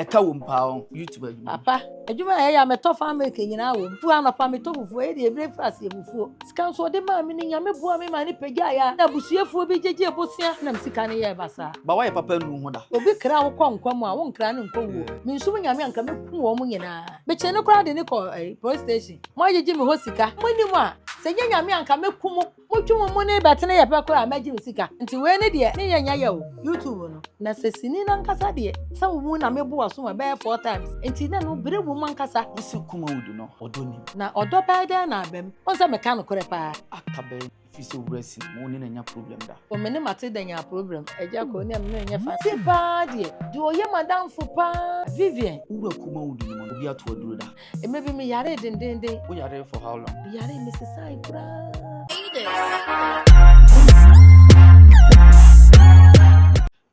ɛka wɔ mu paa wɔn youtube adwuma. papa adwuma a ɛyɛ a mɛtɔ fan milk nyinaa wɔ mu fu anɔpa mɛtɔ fufuo ɛyɛ deɛ ebire fura aseɛ fufuo sika nso ɔde maa mi ne nyame boa mi maa ne pagya ayɛ a na abusuafoɔ bi gyegye bosia nam sika ne yɛ basaa. ba wɔyɛ papa nu ho da. obi kra wo kɔ nkwa mu a wo nkra ne nkɔ wuo me nso mu nyame anka mɛku wɔn nyinaa mekyee ne koraa de ne kɔ eh, police station mo agyegye me hɔ sika mo anim a sɛ nyɛ nyame anka mɛku mo. Motwe mo mu ne bɛtene yɛ pɛ koraa mɛgye me sika nti wei ne deɛ ne yɛ nyɛ yɛ o YouTube no na sɛ sini no ankasa deɛ sɛ wo mu na me bo wasom a ɛbɛyɛ four times nti na no bere wom ankasa. Wo se kuma wudu no ɔdɔ nim. Na ɔdɔ bɛyɛ dɛn na aba mu wohu sɛ meka nokorɛ paa. Aka bɛn ɛfiri sɛ owura si na wo ne no anya problem da. O me ne Matilda nyaa problem agya kɔ onim me menyɛ fan. Ti paa deɛ deɛ ɔyɛ madamfo paa Vivian. Wo wura kuma wudu no ma obi ato aduro da. Mmerɛ bi me yaree dendenden. Wo yaree for how long? Me yaree me sesae koraa.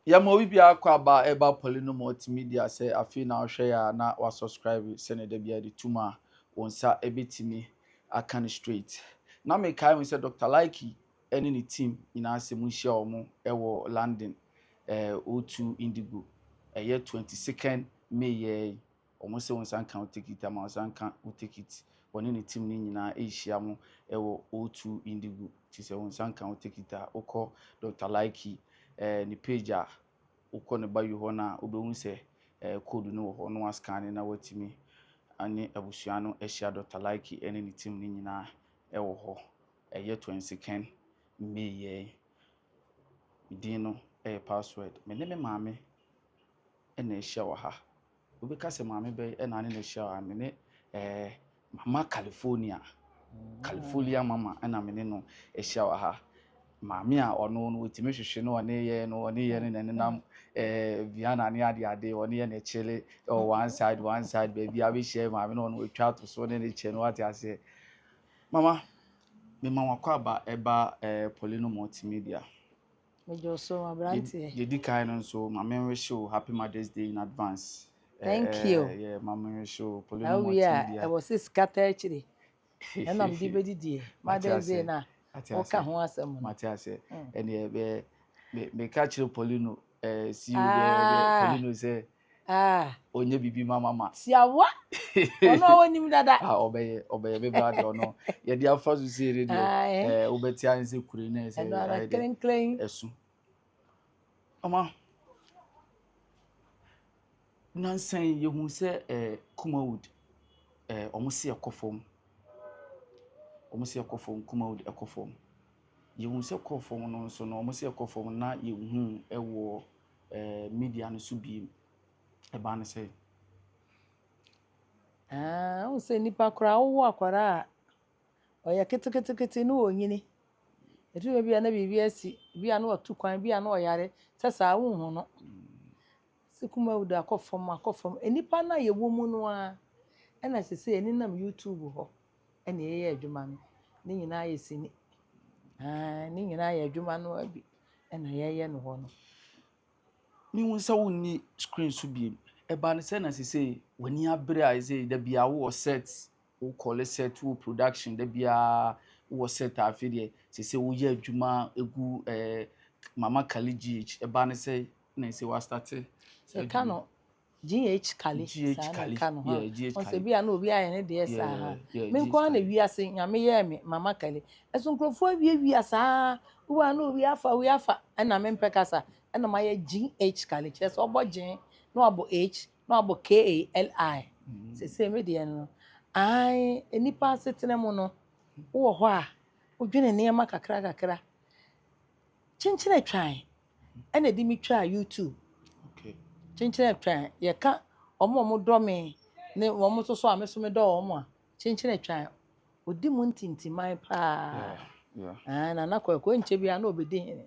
yɛma obi biara kɔ aba a ɛba pɔli no ma ɔtumi di asɛ afei na ɔhwɛ yɛ a na wasubscribe sɛnea da biara de tum a wɔn nsa ɛbɛtumi aka no straight na mekae mu sɛ dr laiki ɛne ne team nyinaa sɛ mu nhyia wɔn ɛwɔ london ɛɛ o2 indigo ɛyɛ 22nd may yɛ Wɔse ɔnsan nka wo tekit ama ɔsan nka wo tekit. Ɔne ne team no nyinaa rehyia mo wɔ O2 Indigo nti sɛ ɔnsan nka wo tekit a wokɔ Doctor Likey ne page a wokɔ ne bio hɔ no a wobɛhu sɛ code no wɔ hɔ na woascanne na woatumi ne abusua no ahyia Doctor Likey ne ne team no nyinaa wɔ hɔ. Ɛyɛ twensiken May yɛn. Me din no yɛ Password. Me ne me maame na ahyia wɔ ha. Obi ka sɛ maame bɛn na ne na hyia a, me ne eh, mama California. California mama na me ne no hyia wɔ ha. Maame a ɔno no wɔtumi hwehwe no ɔne yɛ no ɔne yɛ no na nenam eh, Vienna ne ade ade ɔne yɛ na ɛkyele ɛwɔ one side one side baabi a bɛhyia maame na ɔno atwa ato so ne ne kyɛ no wate aseɛ. Mama, mema wakɔ aba ɛba eh, Polino Multimedia. Medwo so abranteɛ. Yɛ di kan no nso ma me nwe show happy mother's day in advance. Thank eh, you. Yɛ ma me nwe show polo no mo team bia. Ɛwɔ sɛ sika ta akyire. Ɛna mede bɛdi die mother's day na woka ho asɛm no. Mate ase. Ɛne ɛbɛ meka kyerɛ polo no eh si wo bɛ polo no sɛ Ah. Ɔnyɛ biribi ma mama. Tiawa. Ɔno a ɔnim dada. Ah, ɔbɛyɛ, ɔbɛyɛ me ba deɛ ɔno. Yɛde afa so sie ne deɛ. Ah, eh. Eh, wobɛte ayɛ sɛ kure na ɛsɛ. Ɛno ara klenklen. Ɛso. Mama. Nansan yi yɛhu sɛ eh, Kumawood eh, wɔn se ɛkɔ fam. Wɔn se ɛkɔ fam, Kumawood ɛkɔ fam. Yɛhu sɛ kɔɔ fam no nso no, wɔn se ɛkɔ fam na yɛhu ɛwɔ. media no so bio. Ɛbaa no sɛ. Ah, wo sɛ nipa koraa wowo akwara a ɔyɛ ketekete ne ɔnyini ɛtumi bɛ bi a na biribi asi bi a na ɔtu kwan bi a na ɔyare sɛ saa wonhu no sɛ kuma wuda akɔ fam akɔ fam nnipa no a yɛwɔ mu no a ɛna sɛ sɛ ɛne nam youtube hɔ Ɛna yɛyɛ adwuma no ne nyinaa yɛ sini aah ne nyinaa yɛ adwuma no ara bi ɛna yɛyɛ no hɔ no. Me hu sɛ wonni screen so biem ɛba no sɛ na sisei w'ani abere a ɛsɛ dabiaa wo wɔ set wo kɔle set wo wɔ production dabiaa wo wɔ set a afei deɛ sisei wo yɛ adwuma egu ɛɛ mama kali GH ɛba no sɛ na ɛsɛ w'astate. Sɛ ka no GH Kali GH saa na Kali, ɛka no ha yeah, GH ɔn sɛ Kali. bi a na obi ayɛ ne deɛ saa ha Yeah, yeah, me GH nko ara na Kali. wiase nyame yɛɛ me mama Kali ɛso nkurɔfoɔ awiawia saa wowɔ a na obi afa obi afa ɛna me mpɛ kasa ɛna mayɛ GH Kali kyerɛ sɛ ɔbɔ gyen na wabɔ H na wabɔ KALI sesei me deɛ no ae nnipa asetena mu no wowɔ hɔ a wodwene nneɛma kakra kakra kyenkyen atwan ɛna ɛde me twaa YouTube kyenkyen atwa yɛka wɔn a wɔdɔ me ne wɔn nso so a me nso medɔ wɔn a kyenkyen atwa odi mu ntintiman paa ɛɛ na nakɔ ɛkɔ nkyɛ bi a na ɔbɛdi hene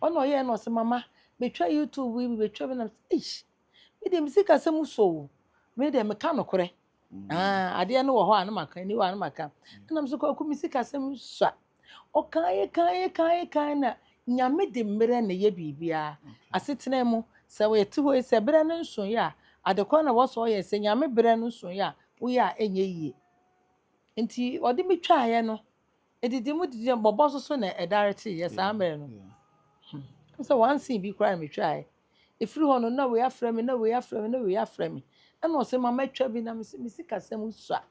ɔna ɔyɛ na ɔsɛ mama betwa YouTube yi betwa bi na eish me deɛ me sika sɛ mu so wo me deɛ meka nokorɛ. Ah, adeɛ no wɔ hɔ a na maka ani wɔ a na maka ɛna m sɛ kwaku me sikasɛm sua ɔkan yɛ kan yɛ kan yɛ kan na nyame de mmerɛ na ɛyɛ biribiara asetena mu sɛ yɛte hɔ yi sɛ berɛ no nso yɛ a adekɔ na wɔsɔ yɛ sɛ nyame berɛ no nso yɛ a woyɛ a ɛnyɛ yie nti ɔde me twaeɛ no Edidi mu didi mu bɔbɔ so so na ɛdare teeɛ saa mmerɛ no. Ɛm sɛ wansen bi koraa na metwaeɛ. Ɛfiri hɔ no na wei afrɛ me na wei afrɛ me na wei afrɛ me. Ɛna ɔse ma mɛtwa bi na me se me sikasɛm sua.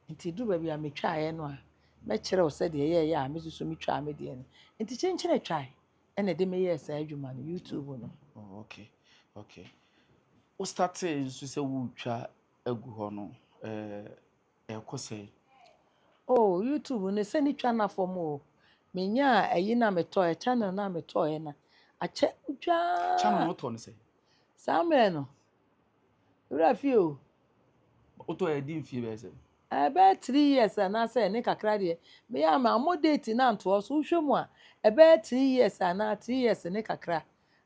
Nti ɛduru baabi a metwaeɛ no a mɛkyerɛ wo sɛdeɛ ɛyɛeɛ a me nso so metwaa me deɛ no. Nti kyenkyene twae ɛna ɛde me yɛɛ saa adwuma no YouTube no. Oh, okay, okay. Wo startee nso sɛ wotwa agu hɔ no, eh, ɛkɔ sɛn. Oh YouTube no sɛ ne twa na fam o me nyaa ayi na me tɔɛ channel na me tɔɛ na akyɛ twaa channel no tɔ no sɛ saa mmerɛ no wura fie o wotɔ ɛdi mfie bɛyɛ sɛ ɛbɛyɛ three years anaasɛ ne kakra deɛ meyɛ ama mo date na ntoɔ so wohwɛ mu a ɛbɛyɛ three years anaa three years ne kakra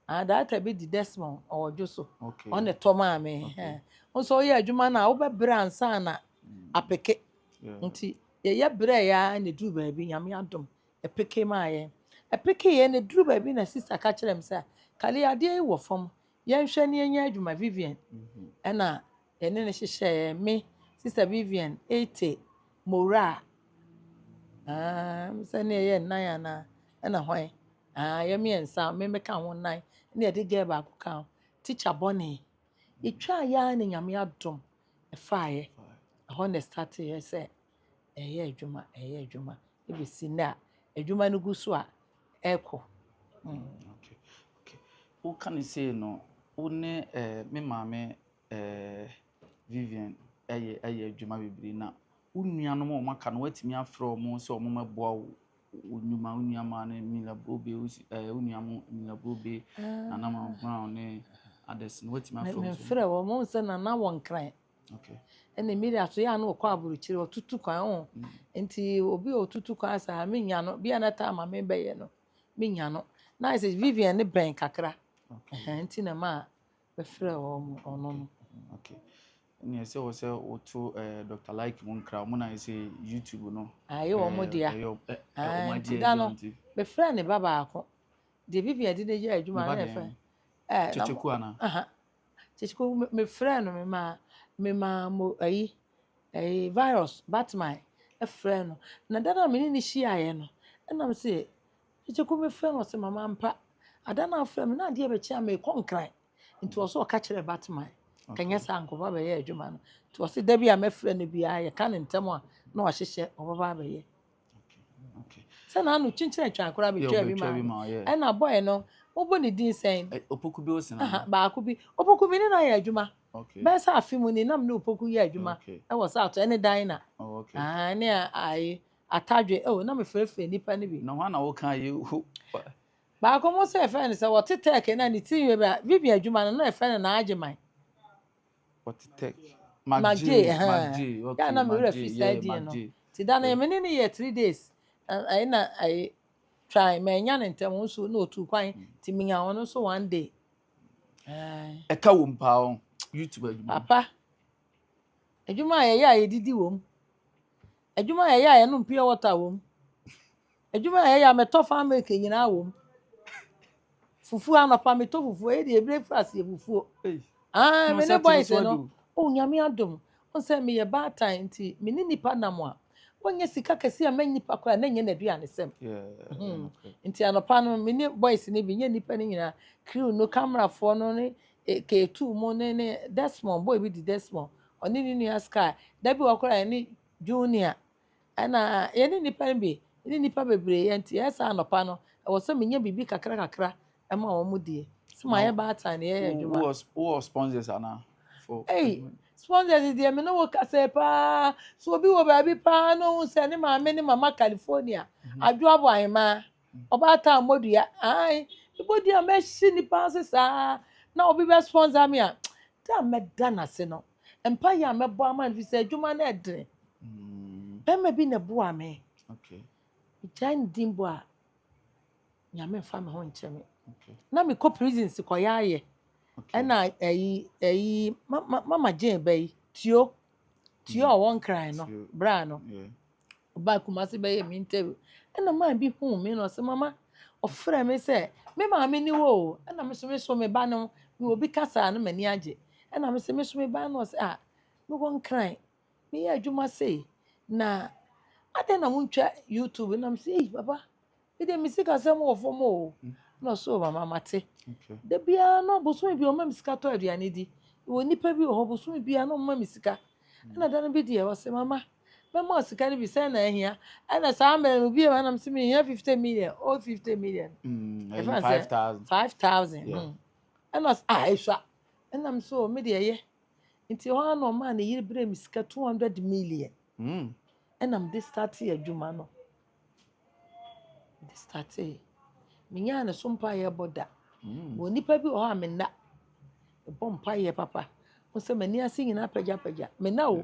Ah data bi di Desmond ɔwɔdwo so. Okay. Ɔne tɔ maa me. Okay. Nso ɔyɛ adwuma no a wobɛbrɛ ansa na mm. apeke. Nti yɛyɛ brɛ ya na duru baabi nyame adom ɛpeke maa yɛn. Ɛpeke yɛn na duru baabi na sista ka kyerɛ me sɛ kale adeɛ yi wɔ fam yɛnhwɛ ne yɛnyɛ adwuma Vivian. Mm-hmm. Ɛna yɛne no hyehyɛeɛ, me, Sister Vivian, Ate, Mora, um, sɛ ne yɛyɛ nnan anaa, ɛna hwan, uh, yɛ mmiɛnsa, me meka ho nnan, ne yɛde girl baako ka ho, teacher bɔne. Yɛtwaa yɛ ara ne Nyame adom ɛfaeɛ. Ɛhɔ na ɛstateeɛ sɛ ɛyɛ adwuma, ɛyɛ adwuma, ɛbɛsi nnɛ a adwuma no gu so a ɛrekɔ. Mm. Okay. Okay. Woka ne sei no, wo ne eh, me maame Ɛɛ, Vivian, ɛyɛ, ɛyɛ adwuma bebree. Na wo nuanom a wɔaka no, woatumi afrɛ wɔn sɛ wɔmmɛboa wo, wo nnwuma, wo nuammaa no, Mila Brobe, wo si, ɛɛ, wo nua mo, Mila Brobe, Nana Mama Brown ne others no, woatumi afrɛ wɔn. Mefrɛ wɔn, wɔn sɛ Nana wɔ Nkran. Okay. Ɛna Mila so yɛ a na ɔkɔ aburokyire, ɔtutu kwan ho. Mm. Nti obi a ɔtutu kwan saa, menya no, bi a na taa ma mebɛyɛ no, menya no. Na ayɛ sɛ Vivian ne bɛn kakra. Okay. Nti na maa Bɛfrɛɛ wɔn, ɔno no. Okay. Ɛnna ɛsɛ wɔ sɛ woto ɛɛ eh, Dr. Like mu nkra wɔn na ɛsɛ YouTube no. Ayɛ wɔn eh, dea. Ɛyɛ eh, eh, wɔn adeɛ ɛdi wɔn ti. Bɛfrɛ ne ba baako. Deɛ bibi ɛde ne yɛ adwuma na ɛfɛ. Ɛɛ kyekyeku ana. Aha kyekyeku me me frɛ no me ma me ma mo ayi ɛyi virus batman ɛfrɛ no na dada mi ne ne hyiaeɛ no ɛnam sɛ Gyegye kor me frɛ no ɔse mama ampa Ada no afrɛ me na adeɛ bɛkye a merekɔ nkran nti ɔse ɔka kyerɛ Batman kanyɛ saa nkɔba bɛyɛ adwuma no nti ɔse da bi a mɛfrɛ no biara yɛka no ntɛm a na wahyehyɛ ɔbɛba abɛyɛ sɛ na ano kyinkyin atwan koraa bɛtwa bi ma ɛna bɔɛ no mobɔ ne din sɛn eh, opoku bi ɔse na baako bi opoku bi ne na yɛ adwuma bɛyɛ sɛ afe mu ni nam ne opoku yɛ adwuma ɛwɔ sɛ ato ɛne dan na oh, ɛne ayi Atadwe, oh, na mefrɛfrɛ nnipa no bi. Na hwan na woka yi? Baako mo sɛ yɛfrɛ no sɛ wɔte tɛk na ne ti yɛ bia Vivian adwuma no na yɛfrɛ no naagye man. Wɔte tɛk. Magye, magye, okay. Yɛ na me werɛ fi saa die no. Ti da no me ne no yɛ three days. Ɛyɛ na ɛyɛ twan ma ɛnya ne ntɛm nso na otu kwan ti me nya wɔn nso one day. Ɛka wɔm paa wɔn YouTube adwuma. Papa. Adwuma a yɛyɛ a yɛdidi wɔm. Adwuma a yɛyɛ a yɛnom pure water wom. Adwuma a yɛyɛ a mɛtɔ fa milk nyinaa wom. Fufuo anɔpa metɔ fufuo ɛyɛ deɛ ebire fura aseɛ fufuo. Aa me ne boys no o oh, nyame adom nsɛ meyɛ baatan nti me ne nipa nam a wɔnyɛ sika kɛse a mɛnyɛ nipa koraa na nyɛ n'aduane sɛm. Hmm. Nti anɔpa no me ne boys no bi nyɛ nipa no nyinaa crew no camerafoɔ no ne eh, K2 mu ne ne Desmond boy bi di Desmond Ɔne ne nua Sky. Da bi wɔ hɔ koraa a yɛne Junior ɛna yɛne nnipa no bi ne nnipa bebree yɛ nti ɛyɛ sɛ anɔpa no ɛwɔ sɛ menya biribi kakra kakra ɛma wɔn die sɛ Na mayɛ baatan na yɛyɛ wo- adwuma. wowɔ wowɔ sponsors anaa for Ei, adwuma sponsors deɛ me ne wo kasɛɛ paa sɛ obi wɔ baabi paa na ɔhu sɛ ne maame ne mama California adwo abɔ ahemaa Ɔbaatan mmɔdua ae mebɔdua a mɛhye nnipa ase saa na obi bɛ sponsor me a da a mɛda n'ase no mpaeɛ a mɛbɔ ama no fi sɛ adwuma no ɛdene bɛrima bi na ɛboa me megyae ne din bɔ a nyame mfa me ho nkyɛ me na mekɔ prison si kɔyɛ ayɛ ɛna ɛyi ɛyi mama gyeen bɛ yi tuo tuo a ɔwɔ nkran no bra no Ɔbaa Kumasi bɛyɛɛ me interview, ɛna man bi huu me na ɔse mama, ɔfrɛɛ me sɛ me maame ni wo o, ɛna me so me so me ba no, mewɔ bi kasa a na m'ani agye, ɛna me se me so me ba no, ɔse a mewɔ nkran, meyɛ adwuma sei, na adɛn na wontwa YouTube, na me se ei papa, Me deɛ me sikasɛm wɔ fam o. Ɛna ɔsɛ o mama mate. Da biara no bosome bi ɔma me sika tɔ aduane di. Wɔ nipa bi wɔ hɔ bosome biara no ɔma me sika. Ɛna da no bi deɛ ɔsɛ mama mɛma ɔ sika no bi sɛ na ahia. Ɛna saa mmerɛ no bia ɛna sɛ mehia 50 million o 50 million. Mm, ɛfɛn sɛ 5000. Mm. Ɛna ɔsɛ ah ɛsua. Ɛna me so me deɛ yɛ. Nti hɔ ano ɔma ne yere berɛ me sika 200 million. Mm. Ɛna me de start adwuma no. Mede startee, menyaa ne so mpaeɛ bɔ da. Mewɔ nnipa bi wɔ hɔ a me nna, mebɔ mpaeɛ papa. Wo sɛ m'ani ase nyinaa apagyapagya. Me nna o,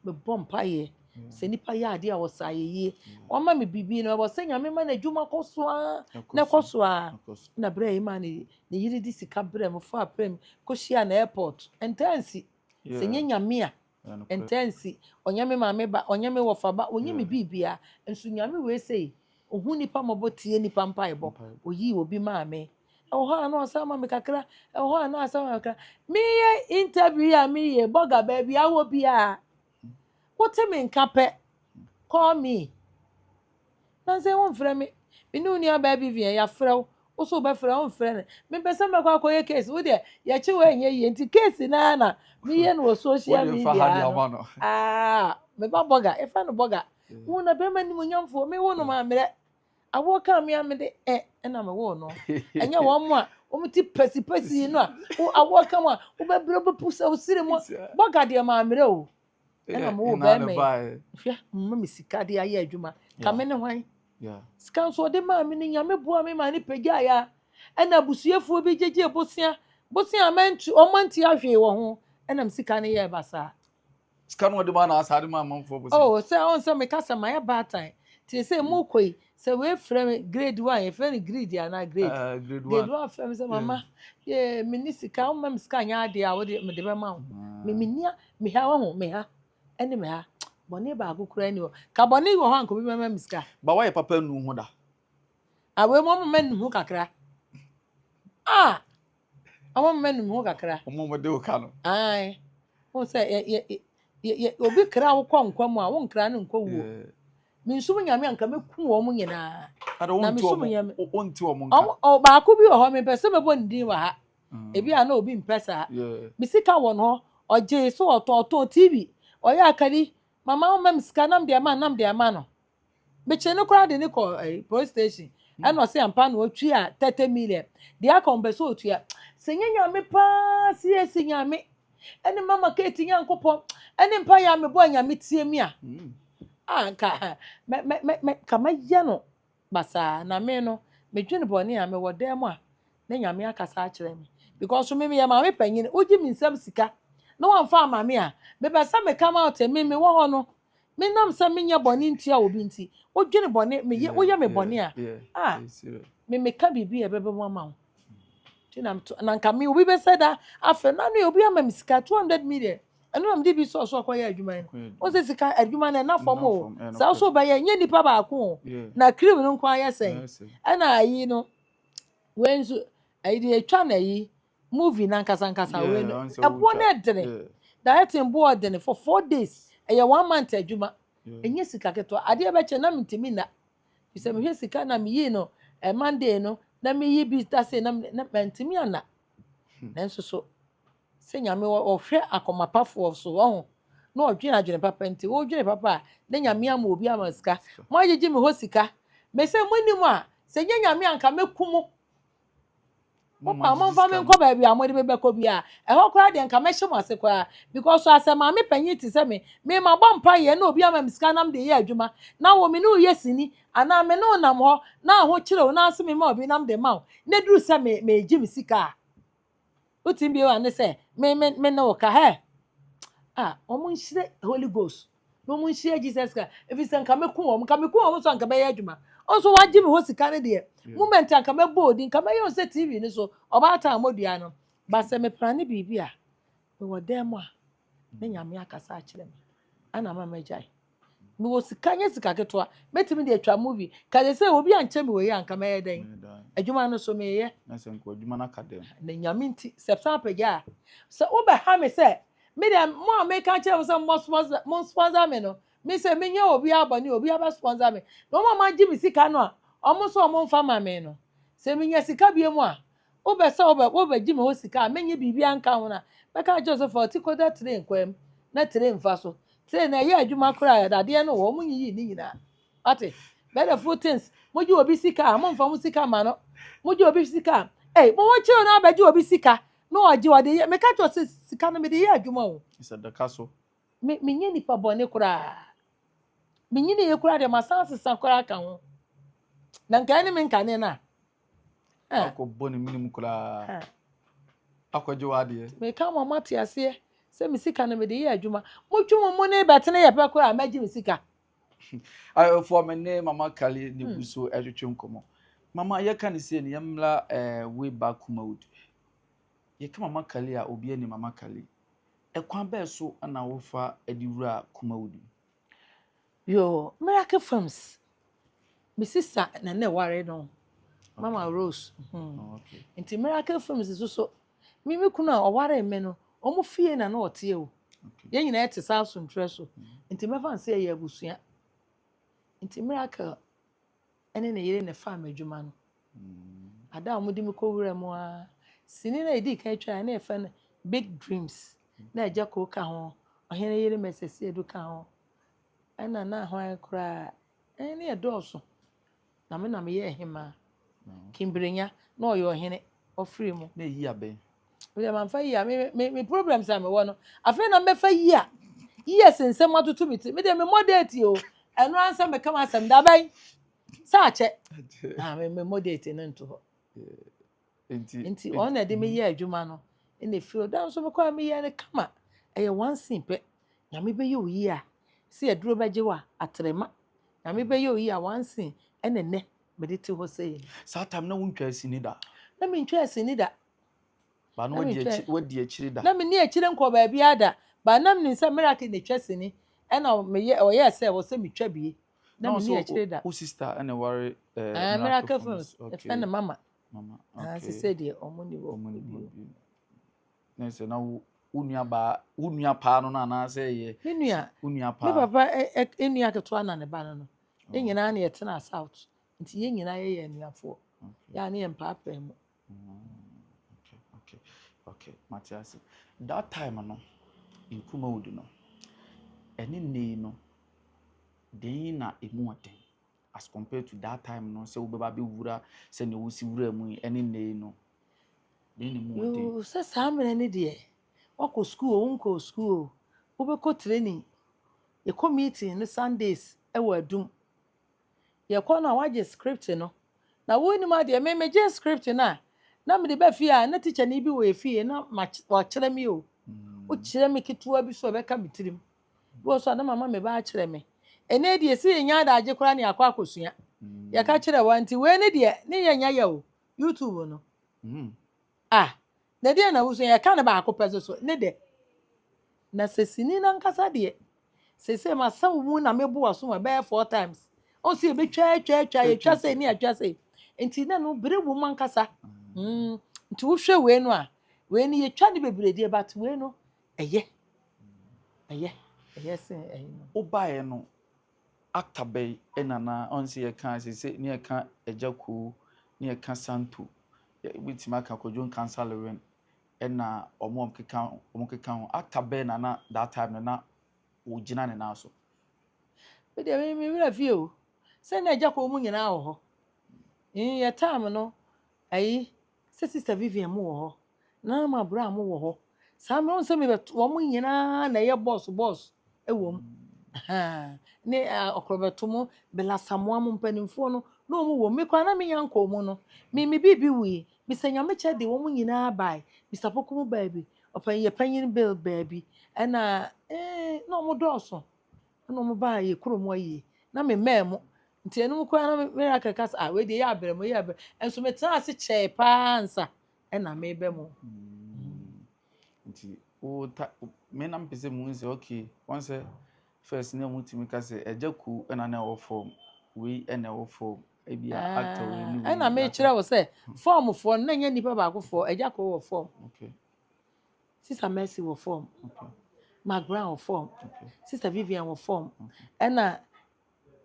mebɔ mpaeɛ. Sɛ nnipa yɛ adeɛ a wɔsa ayɛ yie. Wɔma me biribi no, wɔsɛ Nyame ma n'adwuma kɔ so ara na ɛkɔ so ara. Na berɛ a yɛ maa ne ne yere de sika brɛ me faa plane kɔhyiaa no airport. Ɛntaa nsi, sɛ ɛnyɛ Nyame a. Ɛntɛ nsi, ɔnyɛ me maame ba, ɔnyɛ me wɔfa ba, ɔnyɛ me biribia, nso Nyame wei sei, ɔhu nnipa mmɔbɔ, tie nnipa mpaebɔ, ɔyii obi maa me, ɛwɔ hɔ a na ɔsan ma me kakra, ɛwɔ hɔ a na ɔsan ma me kakra. Meyɛ interview yi a meyɛ bɔga baabi a wɔ biara, wote me nka pɛ, call me. Nanso ɛ womfrɛ me. Me ne wo nuabaa Vivian, yɛafrɛ wo. Wo nso wobɛfrɛ a, womfrɛ no. Mempɛ sɛ mɛkɔ akɔyɛ case. Wo deɛ, yɛkye wo a ɛnyɛ yie. Nti case no ara na meyɛ no wɔ social media ano. Wo deɛ fa ha deɛ ama no. Aa, me ba bɔga, yɛfrɛ no bɔga. Wo na bɛrima animuonyamfoɔ, mewo no mammerɛ. Awoɔ kaa me a mede ɛ ɛna mewoo no. Ɛnyɛ wɔn a wɔn ti pɛsipɛsi no a, wo awoɔ ka mu a, wobɛbrɛ, wobɛpu sɛ wo siri mu. Bɔga deɛ mammerɛ o. ɛna mo wɔ bɛrima yi hwɛ mma me sika de ayɛ adwuma ka me ne hwan sika nso ɔde maa me no nyame boa me maa ne pagya ya ɛna abusuafoɔ bi gyegye bosea bosea mɛnti ɔma nti ahwee wɔ ho ɛna me sika no yɛ basaa sika no ɔde maa na asaade maa amanfoɔ bosea oh sɛ ɔn sɛ meka sɛ mayɛ baatan te sɛ mu kɔ yi sɛ wei frɛ me grade one yɛfrɛ no greed anaa grade uh, grade one grade one frɛ me sɛ mama yɛ me ni sika wɔn mɛ me sika nyɛ adeɛ a wɔde me de bɛ ma wo me me nia me ha wɔn ho me ha ɛne me ha bɔnne baako kura ni hɔ ka bɔnne wɔ hɔ anko bi mɛma me sika. ba wɔyɛ papa nu ho da. awɛ ah, mu ɔmo mɛ nu ho kakra ah Ɔma mma num ho kakra. Wɔn wɔde wo ka no. Ae. Wɔn sɛ yɛ yɛ yɛ yɛ obi kra wokɔ nkwa mu a wɔn kra no nkɔ wuo. Mensum nyame anka mɛku wɔn nyinaa. Na mesum nyame. Wɔnti wɔn nka. Wɔn baako bi wɔ hɔ mepɛ sɛ mɛbɔ ne din wɔ ha. Ebi a na obi mpɛ saa. Me sika wɔ no hɔ ɔgye so ɔtɔn ɔtɔn TV ɔyɛ akari mama wɔn mɛ me sika nam deɛ ma nam deɛ ma no. mekyere no koraa de no kɔ eh, police station ɛna ɔsɛ ampa na ɔtua thirty million deɛ aka ɔmpɛ sɛ ɔtua sɛ nyɛ nyame paa si asi nyame ɛne mama kate nyankopɔn ɛne mpa yɛ a mebɔ a nyame tie me a mm. a nka mɛ mɛ mɛ mɛ ka mɛyɛ no basaa na me no medwene bɔne a mewɔ dan mu a na nyame akasa akyerɛ me because me meyɛ maame panyin wogye me nsam sika na wɔmfa ama me a mebɛsa me come out me mewɔ hɔ no Menam sɛ menyɛ bɔne ntia obi nti, wodwene bɔne, meyɛ, Yeah, woyɛ me yeah, bɔne a, yeah. a, I see that. me meka biribi a ɛbɛbɛ mu ama wo. Nti na meto, na nka me obi bɛsɛ da, afei na no yɛ obi ama me sika 200 million. Ɛno na mede bi sɔɔ so akɔyɛ adwuma no. Kɔyɛ Wo adwuma. sɛ sika adwuma no ɛna fam Ɛna o. fam, ɛna Sɛ wo so fam. wobɛyɛ, nyɛ nipa baako o. Yeah. Na cream no nko ayɛ sɛn? Ɛyɛ sɛ. Ɛna ayi no, wei nso, ayi deɛ yɛtwa na ayi, Movie no ankasa ankasa Yeah, wei no ɔnsɛ ɛboɔ wotwa. no ɛdene Yeah, directing boɔ ɔdene for four days ɛyɛ one month adwuma yeah. ɛnyɛ sika ketewa adeɛ ɛbɛkyɛ na mentumi nna fi sɛ mehwɛ sika na meyii no eh, monday no na meyi bi da sei na me- na mantumi anna Hmm. nanso so sɛ nyame wɔ- ɔhwɛ akomapafoɔ so ɔho na ɔdwene adwene papa nti wodwene papa a na nyame ama obi ama sika Sika. moagyegye me hɔ sika me sɛ monim a sɛ nyɛ nyame anka mɛku mo mo paa momfa me nkɔ baabi a mode me bɛkɔ bi a ɛhɔ koraa deɛ nka mɛhyɛ mo ase koraa because so asɛ maame panyin te sɛ me me ma bɔ mpa yɛ na obi ama me sika nam de yɛ adwuma na wo me ne wo yɛ sini anaa me ne wo nam hɔ na ahokyerɛ wo na ase me ma obi nam de ma wo na duru sɛ me megye me sika a Wotumi bue w'ano sɛ, Me, me, me ne wo ka. Hɛ! Ah, wɔn nhyira Holy Ghost. Na wɔn nhyira Jesus Christ. Efi sɛ nka mɛku wɔn, nka mɛku wɔn nso anka bɛyɛ adwuma. Nso wagye me hɔ sika no deɛ. Yeah. Moment anka mɛbɔ odi, nka mɛyɛ wɔn sɛ TV no so, ɔbaatan a wɔdua no. Ba sɛ mepra ne biribi a, mewɔ dan mu a, na nyame akasa akyerɛ me. Ɛna ama magyae. Mewɔ sika nyɛ sika ketewa. Mɛtumi de atwa movie. Ka sɛ sɛ obi ankyɛ me wei a anka mɛyɛ dɛn? Adwuma no so meyɛ. Na sɛ nka adwuma no aka dɛn? Na Nyame nti sɛ san pagya a. Sɛ wobɛha me sɛ me deɛ mo a meka kyerɛ mo sɛ mo sponsor mo sponsor me no me sɛ menyɛ obiara bɔne obiara bɛ sponsor me na wɔn a wɔagye me sika no a wɔn nso wɔn mfa ma me no sɛ menya sika bie mu a Wopɛ sɛ wobɛ wobɛgye me hɔ sika a menyɛ biribiara nka ho no a, mɛka akyerɛ wo sɛ fa wo ti kɔda tire nkwam na tire mfa so. Tire no ɛyɛ adwuma koraa, dadeɛ no wɔ, wɔnyiyii ne nyinaa. Wate? But the full things, mogye obi sika a, momfa mo sika ma no. Mogye obi sika a, ei, mo ho kyerɛ no abɛgye obi sika na ɔgye ɔde yɛ. Meka kyerɛ wo sɛ sika no mede yɛ adwuma o. Sɛ daka so. Me, menyɛ nipa bɔne koraa. Menyiniiɛ koraa deɛ masan asesa koraa aka ho. Na nka ɛne me nkane no a. Akɔbɔ ne menem koraa akɔgye w'adeɛ. Meka ma moate aseɛ sɛ me sika no mede yɛ adwuma. Motwe mo mu ne bɛtene yɛ pɛ koraa mɛgye me sika. Ayɔfoɔ me ne mama Kali ne gu so ɛtwetwe nkɔmmɔ. Mama yɛka ne sei no yɛmmra way back Kumawood. Yɛka mama Kali a obi ani mama Kali. Ɛkwan bɛɛ so na wofa de wura Kumawood mu? Yoo miracle films me sister na na ɛware no mama rose hmm. oh, okay. nti miracle films nso so me me kunu a ɔware me no wɔn fie na na ɔteɛ o yɛn nyinaa te saa asomtwerɛ so mm-hmm. nti mɛfa nse ɛyɛ abusua nti miracle ɛne ne yere na ɛfa m'adwuma no mm-hmm. ada a wɔde me kɔ wura mu a sini na edi kan atwa na ɛfɛ no big dreams na ɛgya koo ka ho ɔhene yere mɛsɛsɛ edu ka ho. Ɛna na hwan koraa ɛn ne ɛdɔɔso na me na me yɛ ɛhemaa kimbrenya na ɔyɛ ɔhene ɔfiri mu. Na yia bɛn. Bia ma nfa yia me me me problems a me wɔ no afei na mbɛfa yia yia sɛ nsɛm atoto me ti me deɛ me mmɔ date o ɛno ansa mɛka m'asɛm da bɛn sɛ akyɛ na me me mmɔ date no nto hɔ. Enti ɔno na ɛde me yɛ adwuma no na efiri ɔda nso mekɔ a meyɛ no kama ɛyɛ one scene pɛ nyame bɛyɛ oyi a sɛ aduro bɛgye wa atrɛma nyame bɛyɛ oyi a one scene ɛna ɛnɛ mede te hɔ sɛ saa tam na wontwa asini da na mentwa asini da ba no wadi akyiri da na menni akyire nkɔ baabi ada ba na menim sɛ miracle na ɛtwa sini ɛna meyɛ ɔyɛ sɛ wɔ sɛ metwa bie na menni akyire da. Wo sista na ɛware eh, miracle films ɛfɛ ne mama mama ah, okay sɛ deɛ ɔmo ni wɔ bio na sɛ na wo wo nua baa wo nua paa no na anaasɛ yɛ me nua wo nua paa me papa nua ketewa na ne ba no no ne oh. nyinaa na yɛtena south nti yɛn nyinaa yɛyɛ anuafoɔ yɛa ne yɛ mpaapaa mu That time no Nkrumahud no ɛne nnɛ yi no den na ɛmu yɛ den as compared to that time no sɛ wobɛba abɛwura sɛdeɛ wosi wura mu yi ɛne nnɛ yi no den na ɛmu yɛ den. Yoo sɛ saa mmerɛ no deɛ woakɔ sukuu oo wonkɔɔ sukuu oo wobɛkɔ training yɛkɔ meeting no Sundays wɔ Adum. yɛkɔ no a wagye script no na wonim adeɛ me megyee script no a na mede ba fie a na tikyani bi wɔ efie na wakyerɛ me o wokyerɛ mm. me ketewa bi so a ɛbɛka me tirim bi wɔ so a na mama me ba akyerɛ me ɛnɛ deɛ ɛsɛ yɛnya adagye koraa ne akɔ akɔsua mm. yɛka kyerɛ wa nti wei ne deɛ ne yɛnya yɛ o youtube no mm. ah Na deɛ na wosua yɛka no baako pɛ so so ne dɛ na sɛ sini no ankasa deɛ sese masaw mu na mebo aso ma bɛyɛ four times ɔn sɛ yɛbɛtwa atwa atwa yɛtwa sɛ ne atwa sɛ nti na no bere wɔ mu ankasa mm. nti wohwɛ wei no a wei no yɛtwa ne bebree deɛ but wei no ɛyɛ ɛyɛ ɛyɛ sɛ ɛyɛ no wobaeɛ no Ata bɛn na na ɔn sɛ yɛka a seesei ne yɛka Agyakuo, ne yɛka Santo, yɛbɛtumi aka Kwadwo Nkansah Lewin ɛna wɔn a wɔkeka wɔkeka ho. Ata bɛn na na that time no na wɔgyina ne nan so? Me deɛ me me werɛ fie o. Sɛ na Agyakuo mu nyinaa wɔ hɔ. Yɛn time no ayi Sɛ sister Vivian mo wɔ hɔ, Nana ma bra mo wɔ hɔ. Saa mmerɛ wɔn sɛ mebɛto wɔn nyinaa na ɛyɛ bɔs bɔs ɛwɔ mu. Ahaa, Ne ɔkorɔ bɛto mo Bella Samoa mo mpanimfoɔ no na wɔn wɔ mu. Me koraa na me nya nkɔɔ mu no. Me me biribi wui. Mister Nyamekyɛ de wɔn nyinaa bae. Mister Pokumu baabi. Ɔpanyin yɛ panyin Bill baabi. Ɛna ee na wɔn dɔɔso. Ɛna wɔn baa yɛ kuro mu ayie na me mmaa mu nti ɛnum koraa na me ra kɛkɛ sɛ ah wei deɛ yɛ abirɛ mu yɛ abirɛ nso me tena ase kyɛɛ paa nsa ɛna me bɛ mu. Hmm. nti wo ta me na mpɛ sɛ mu sɛ okay wɔn sɛ first na mu tumi ka sɛ ɛgya ku ɛna na ɛwɔ fam wei ɛna ɛwɔ fam ebi a ah, actor wei ni wei ɛna me kyerɛ wo sɛ fɔm foɔ na nyɛ nipa baako foɔ ɛgya ko wɔ fɔm. okay. Sister Mercy wɔ fɔm. Mark Brown wɔ fɔm. Sister Vivian wɔ fɔm. Ɛna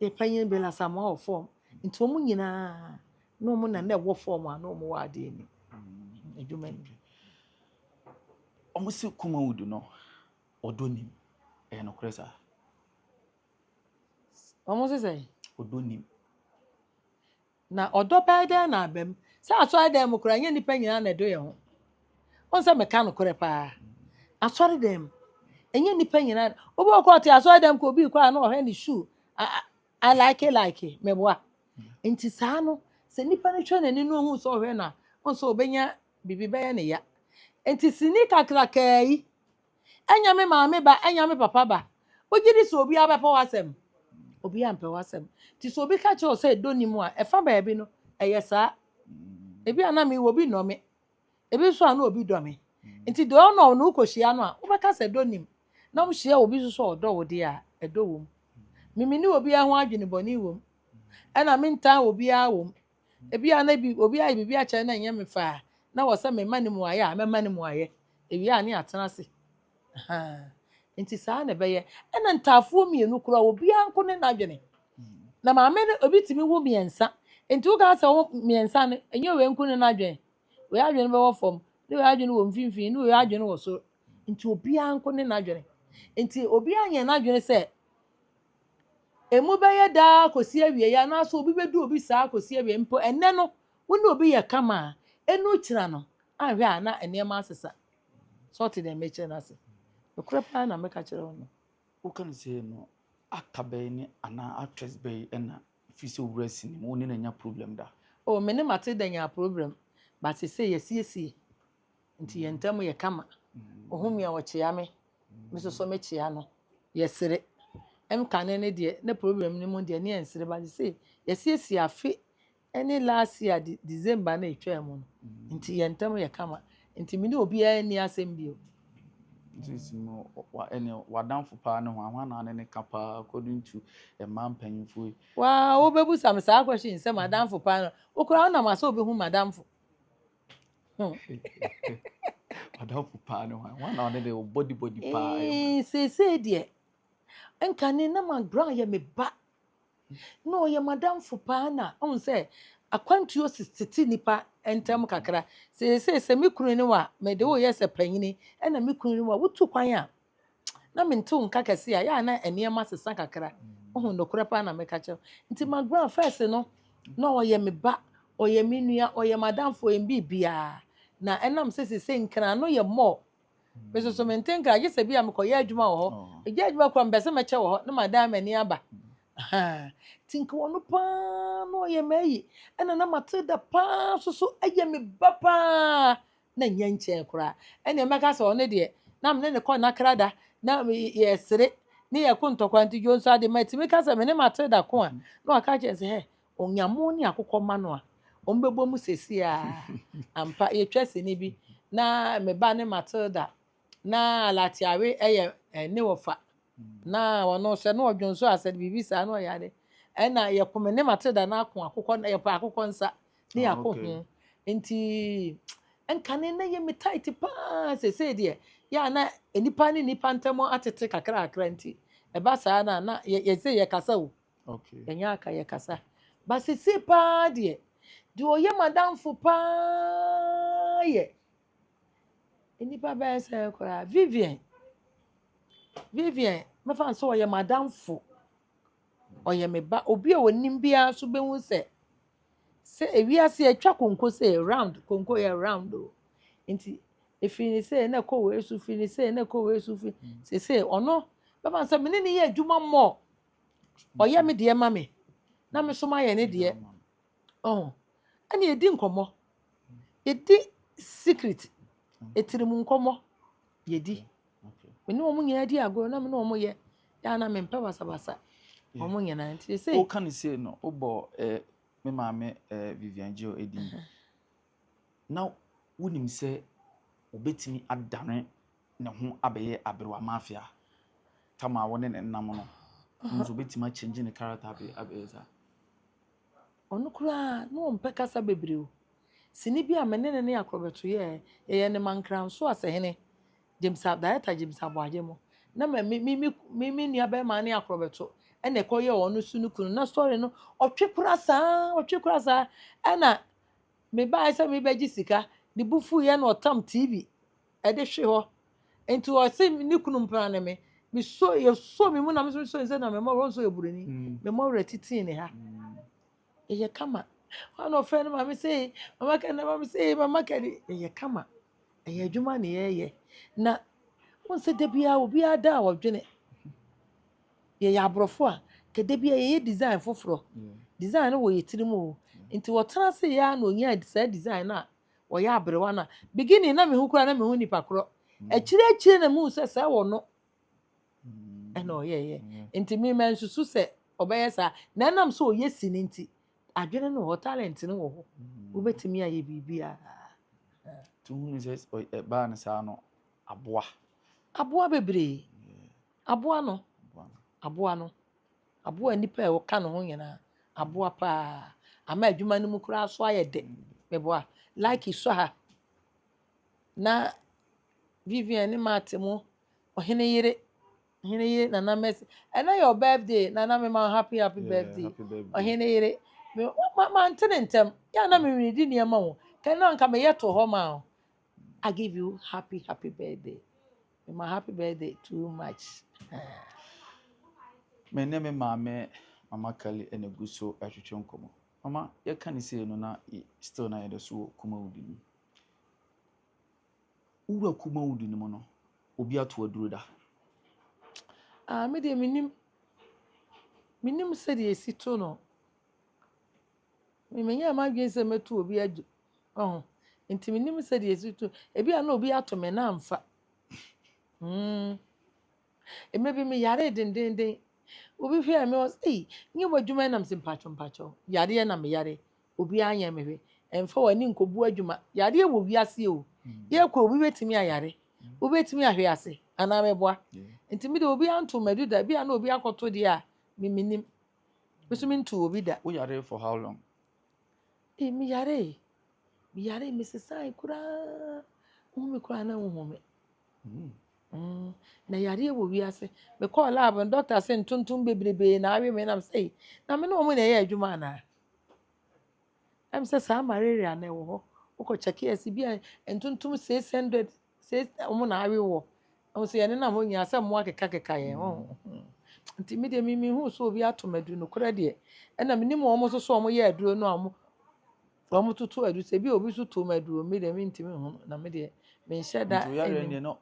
yɛ panyin Bella Samoa wɔ fɔm. Nti wɔn nyinaa na wɔn na na ɛwɔ fɔm a na wɔn wɔ adeɛ ni. Adwuma ni. Wɔn si kuma wudu no ɔdɔ nim. Ɛyɛ nokorɛ saa. Wɔn sisɛ. Ɔdɔ nim. Na ɔdɔ bɛyɛ dɛn na aba mu? Sɛ asɔredan mu koraa, ɛnyɛ nnipa nyinaa na ɛdɔ yɛn ho. Wohu sɛ meka nokorɛ paa. Asɔredan mu, ɛnyɛ nnipa nyinaa. Wobɛ wɔ kɔɔ te asɔredan mu kɔ obi kɔ a na ɔhwɛ ne shoe. A- a- I like it, like it. Meboa. Nti saa no, sɛ nnipa no hwɛ n'ani no ohun sɛ ɔhwɛ no a, wohu sɛ ɔbɛnya biribi bɛyɛ ne ya. Nti sini kakrakraa yi, Ɛnyɛ me maame ba, ɛnyɛ me papa ba. Wogye di sɛ obiara bɛpɛ w'asɛm? Obiara mpɛ w'asɛm. Nti sɛ obi ka kyerɛ wo sɛ ɛdɔ nni mu a, ɛfa baabi no, ɛyɛ saa. Ebi a na mewɔ obi nnɔ me, ebi nso a na obi dɔ me. Nti deɛ ɔnnɔ wo no wokɔhyia no a, wobɛka sɛ ɛdɔ nnim. Na wohyia obi nso sɛ ɔdɔ wo deɛ a, ɛdɔ wom. Memmene obiara ho adwene bɔne wom, ɛnna mentan obiara wom. Ebia na bi obi ayɛ biribi akyerɛ na ɛnyɛ me faa na wɔ sɛ mema no mu ayɛ a mɛma no mu ayɛ. Ewie a ne atena ase. Ahaa. Nti saa na ɛbɛyɛ. Ɛna ntaafoɔ mmienu koraa obiara nko ne n'adwene. Na maame no obi tumi wo mmiɛnsa. Nti woka sɛ wo mmiɛnsa no ɛnyɛ wei nko ne n'adwene. Wei adwene bɛwɔ fam, ne wei adwene wɔ mfimfini, ne wei adwene wɔ soro. Nti obiara nko ne n'adwene. Nti obiara nyɛ n'adwene sɛ Emu bɛyɛ daa akosi awiei anaasɛ obi bedu obi saa akosi awiei. Mpo ɛnnɛ no, wo ne obi yɛ kama a, enu kyena no anhwɛ a na nneɛma asesa. So wote nea merekyerɛ no ase? Nokorɛ paa na meka kyerɛ wo no. Woka no sei no, actor bɛn ne anaa actress bɛn na ɛfiri sɛ owura sini mu, wo ne no anya problem da? Oh, me ne Matilda nyaa problem, but seesei yɛasiesie. Nti yɛn ntam yɛ kama. Ohu me a, ɔkyea me, me nso so mekyea no. Yɛsere. Ɛm kane no deɛ, na problem no mu deɛ, ne yɛnsere, but sesei, yɛasiesie afe ne last year de December no a ɛtwaa mu no, nti yɛn ntam yɛ kama. Nti me ne obiara nni asɛm bio. Nti si no, ɛne w'adamfo paa ne hwan? Hwan na ne ne ka paa according to mmaa mpanyimfoɔ yi? Waa, wobɛbusa me saa question sɛ m'adamfo paa no, wo koraa wonam asɛ wobɛhu m'adamfo? Ɔdɔfo paa ne hwan? Hwan na ɔne de bɔdibɔdi paa yɛ hwan? Ee, seesei deɛ nka ne na ma Brown yɛ me ba na ɔyɛ madamfo paa na ɔhu sɛ akwantuo tete nnipa ntam kakra. Seesei sɛ me kunu ne wa mede woyɛ sɛ panyini ɛna me kunu ne wa wotu kwan a na mentew nka kɛse a, yɛ a na nneɛma sesa kakra. Ohu nokorɛ paa na meka kyerɛ Nti Magran first no, na ɔyɛ me ba, ɔyɛ me nua, ɔyɛ m'adamfo, ɔyɛ me biribiara. Na ɛnam sɛ sesei nkran no yɛ mall. Me nso so mente nkran, gye sɛ bi a mekɔyɛ adwuma wɔ hɔ. Megyae adwuma koraa mepɛ sɛ mɛkyɛ wɔ hɔ na madan m'ani aba. Ahaa. Nti nka ɔno paa na ɔyɛ m'ayi. Ɛna na Matilda paa nso so yɛ me ba paa. na nnya nkyɛɛ koraa. Ɛnneɛ mɛka sɛ ɔno deɛ na me ne no kɔ nakra da na yɛsere ne yɛko ntɔkwa nti dwo nso ade matumi ka sɛ me ne Matilda ko a na waka kyerɛ sɛ hɛ Onyamo ne akokɔ ma no a wɔn bɛbɔ mu sɛsi a ampa yɛtwa sini bi na me ba ne Matilda na Latiari yɛ eh, ne wɔfa na ɔno nso na ɔdwo nso asɛ biribi saa na ɔyɛ ade ɛna yɛko me ne Matilda na ako akokɔ na yɛpɛ akokɔ nsa ne ah, yɛako okay. ho nti nkane na yɛ me tight paa sesei deɛ yɛ a na nipa ne nipa ntam atete kakra kakra nti ɛba saa na na yɛse yɛkasa o okay. yɛnyɛ aka yɛkasa ba sesei paa deɛ deɛ ɔyɛ madamfo paa yɛ Nnipa bɛyɛ sɛ koraa Vivian, Vivian mɛfa no sɛ ɔyɛ m'adamfo, ɔyɛ me ba, obi a ɔnim biara nso bɛhu sɛ sɛ ewiase atwa konko sɛ round, konko yɛ round o. Nti ɛfiri ne sɛ na ɛkɔ wei so, firi ne sɛ na ɛkɔ wei so, firi seesei ɔno bɛfa no sɛ me ne ne yɛ adwuma mmɔ, ɔyɛ me deɛ ma me na me nso mayɛ ne deɛ. Ɔho, ɛna ɛdi nkɔmmɔ. Yɛdi secret, ɛtiri mu nkɔmmɔ, yɛdi. Me ne wɔn nyinaa di agorɔ na me ne wɔn yɛ. Daa na mempɛ basabasa. Wɔn nyinaa nti sɛ. Woka ne sei no, wobɔ eh, me maame eh, Vivian Geo edin. Na wonim sɛ wobɛtumi adane ne ho abɛyɛ aberewa mafia. Tama wo ne ne nam no. Nso wobɛtumi akyɛngye ne character abɛyɛ saa. Ɔno koraa, na ɔmpɛ kasa bebree o. Sini bi a me ne no ne Akorɔbɛto yɛeɛ, yɛyɛɛ no ma Nkransõ Asehene James A, Director James Aboagyemo. Na me me me me me me nua bɛrima ne Akorɔbɛto na ɛkɔyɛɛ wɔn nso no kunu. Na story no, ɔtwe kora saa, ɔtwe kora saa. Ɛna mebaeɛ sɛ merebɛgye sika, ne bo fuiɛ na ɔtam TV ɛde hwe hɔ nti ɔse ne kunu mpena ne me meso yɛsɔ me mu na meso meso sɛ na mema ɔwɔ nso yɛ buroni mm. mema ɔwerɛ titii ne ha mm. ɛyɛ kama ɔna ɔfrɛ no maame sɛ mama kɛde na maame sɛ mama kɛde ɛyɛ kama ɛyɛ adwuma ne yɛyɛ na wɔn sɛ da biara obiara da a wɔdwene yɛyɛ aborɔfo a kɛda biara yɛyɛ design foforɔ design no wɔ yɛ tirim o nti wɔtena se yɛ a na ɔnya saa design no a wɔyɛ aberewa na beginning na mehu koraa na mehu nipa korɔ akyire akyire na mehu sɛ sɛ wɔ no ɛna ɔyɛyɛ nti me ma nsusu sɛ ɔbɛyɛ saa na ɛnam sɛ ɔyɛ si no nti adwene no wɔ talent no wɔ hɔ wobɛtumi ayɛ biribiara tuhunu sɛ ɛbaa no saa no aboa aboa bebree aboa no aboa no Aboa nnipa a wɔka ne ho nyinaa. Aboa paa. Ama adwuma no mu koraa nso ayɛ dɛ. Meboa. Like sɔ ha. Na Vivian ne Matt mo, ɔhene yere, ɔhene yere Nana Mercy. Ɛnɛ yɛ birthday, Nana me ma happy happy birthday. Ɔhene yere. Me ma ma nte ne ntɛm. Yɛ na me di nneɛma ho. Kɛnɛ nka meyɛ to hɔ ma ho. I give you happy happy birthday. Me ma happy birthday too much. me ne me maame mama kali ɛna gu so ɛtwetwe nkɔmɔ mama yɛka ne sei no na still na yɛde so wɔ kumawudi no wura kumawudi no mu no obi ato aduro da ah me deɛ menim menim sɛdeɛ ɛsi to no Me menyɛɛ m'adwene sɛ mɛtu obi agye ɔho nti menim sɛ deɛ ɛsi to ebi a na obi ato me na amfa mm. ɛmɛ bi meyaree dendenden obi hwɛɛ me ɔsɛ ei nyɛ mu adwuma nam sɛ mpakyɛ mpakyɛ yareɛ na meyare obi anyɛ me hwɛ ɛmfa w'ani nkɔbu adwuma yareɛ wɔ wiaseɛ o mm. yɛkɔ obi bɛtumi ayare mm. obi bɛtumi ahwe ase anaa mɛboa nti mede obi anto m'adu da bi a na obi akɔto deɛ a memenim Nso me ntu obi da. Wo yare for how long? Ee me yare e. Me yare e me sesae koraa. Wohu me koraa na wohu me. Mm. Mm. Na yareɛ wɔ wiase. Me kɔɔ lab no doctor se ntontom bebrebe na awe me nam sɛ ei. Na me ne wɔn na ɛyɛ adwuma anaa? Ɛm sɛ saa malaria na ɛwɔ hɔ. Wokɔ kyɛkeɛ ase bi a ntontom 600 Sɛ wɔn na awe wɔ. Wɔn sɛ yɛne nam hɔ nyinaa sɛ mmoa kekakeka yɛn ho. Nti me deɛ mimi hu sɛ obi ato madu nokorɛ deɛ. Ɛna menim wɔn nso so wɔn yɛ aduro no a wɔn wɔn toto aduro sɛ bi obi nso to mu aduro me deɛ mentumi hu na me deɛ menhyɛ da. Nti oyare deɛ no